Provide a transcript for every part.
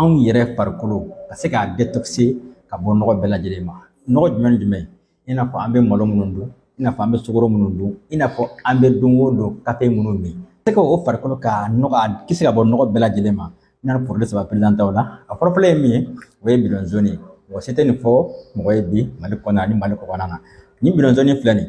anw yɛrɛ farikolo ka se k'a detoxe ka bɔ nɔgɔ bɛɛ lajɛlen ma nɔgɔ jumɛn ni jumɛn i n'a fɔ an bɛ malo minnu dun i n'a fɔ an bɛ sukaro minnu dun i n'a fɔ an bɛ don o don kafe minnu min se ka o farikolo ka nɔgɔ a kisi ka bɔ nɔgɔ bɛɛ lajɛlen ma n'a porodi saba perezante aw la a fɔlɔfɔlɔ ye min ye o ye bidɔn zoni ye mɔgɔ si tɛ nin fɔ mɔgɔ ye bi mali kɔnɔ ani mali kɔkan na nin bidɔn zoni filɛ nin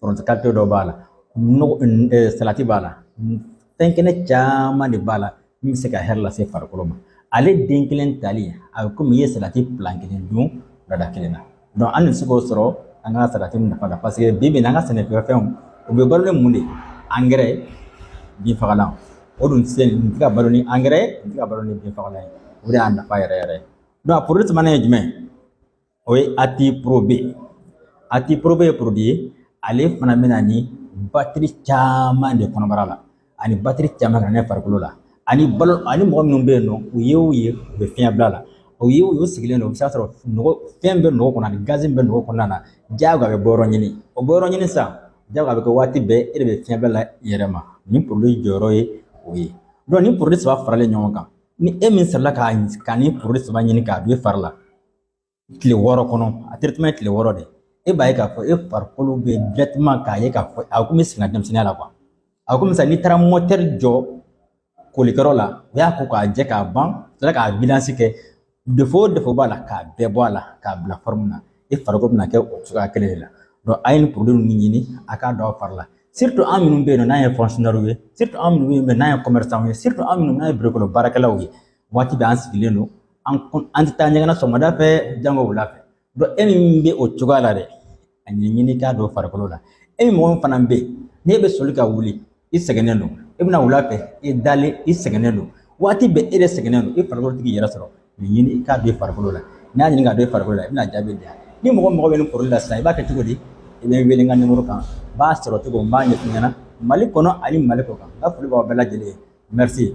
foronto kalite dɔ b'a la nɔgɔ salati b'a la fɛn kɛnɛ caman de b'a la min bɛ se ka hɛrɛ lase farikolo ma ale den kelen tali a bɛ komi i ye salati pila kelen dun wulada kelen na an bɛ se k'o sɔrɔ an ka salati nafa la paseke bi bi in na an ka sɛnɛfɛnw u bɛ balo ni mun de ye angɛrɛ binfagalan o dun se nin tɛ ka balo ni angɛrɛ ye nin tɛ ka balo ni binfagalan ye o de y'a nafa yɛrɛ yɛrɛ ye a sabanan ye jumɛn ye o ye ati porobe ati porobe ye porodi ye ale fana bɛ na ni batiri caman de kɔnɔbara la ani batiri caman ka ne farikolo la ani balo ani mɔgɔ minnu bɛ yen nɔ u ye o ye u bɛ fiɲɛ bila la o ye o sigilen don o bɛ se ka sɔrɔ nɔgɔ fɛn bɛ nugu kɔnɔ ani gazi bɛ nugu kɔnɔna na diyagoya a bɛ bɔ yɔrɔ ɲini o bɔ yɔrɔ ɲini sisan diyagoya a bɛ kɛ waati bɛɛ e de bɛ fiɲɛ bila i yɛrɛ ma nin porodi jɔyɔrɔ ye o ye nin porodi saba faralen ɲɔgɔn kan ni e min sɔrɔla ka nin porodi saba ɲini k'a don i fari la tile wɔɔrɔ kɔnɔ a traitement ye tile wɔɔrɔ de e b'a ye k'a fɔ e farikolo bɛ directement k'a ye k'a fɔ a komi i seginna i ka denmisɛnninya la a komi sisan n'i taara mɔtɛri jɔ kolikɛyɔrɔ la o y'a ko k'a jɛ k'a ban tila k'a vidanzi kɛ defo o defo b'a la k'a bɛɛ bɔ a la k'a bila fɔrɔmu na e farikolo bɛna kɛ o cogoya kelen de la donc a ye nin porodi ninnu ɲini a k'a don a fari la surtout an minnu bɛ yen nɔ n'an ye fɔnsiyɔnɛriw ye surtout an minnu bɛ yen nɔ n'an ye kɔmɛrisanw ye surtout an minnu n'an ye birokɔnɔ baarakɛlaw ye waati bɛɛ an sigilen don an an tɛ taa ɲɛgɛn na sɔgɔmada fɛ jango wula fɛ e min bɛ o cogoya la dɛ a ɲini k'a don farikolo la e mɔgɔ min fana bɛ yen n'e bɛ soli ka wuli i sɛgɛnnen don i bɛ na wula fɛ i dalen i sɛgɛnnen don waati bɛɛ e de sɛgɛnnen don i farikolo t'i yɛrɛ sɔrɔ nin ɲini i k'a don farikolo la n'i y'a ɲini k'a don farikolo la i bɛna jaabi di yan ni mɔgɔ mago bɛ nin porodi la sisan i b'a kɛ cogo di i bɛ wele n ka nimoro kan n b'a sɔrɔ cogo n b'a ɲɛf'i ɲɛna mali kɔnɔ ani mali kɔkan n ka foli b'aw bɛɛ lajɛlen ye merci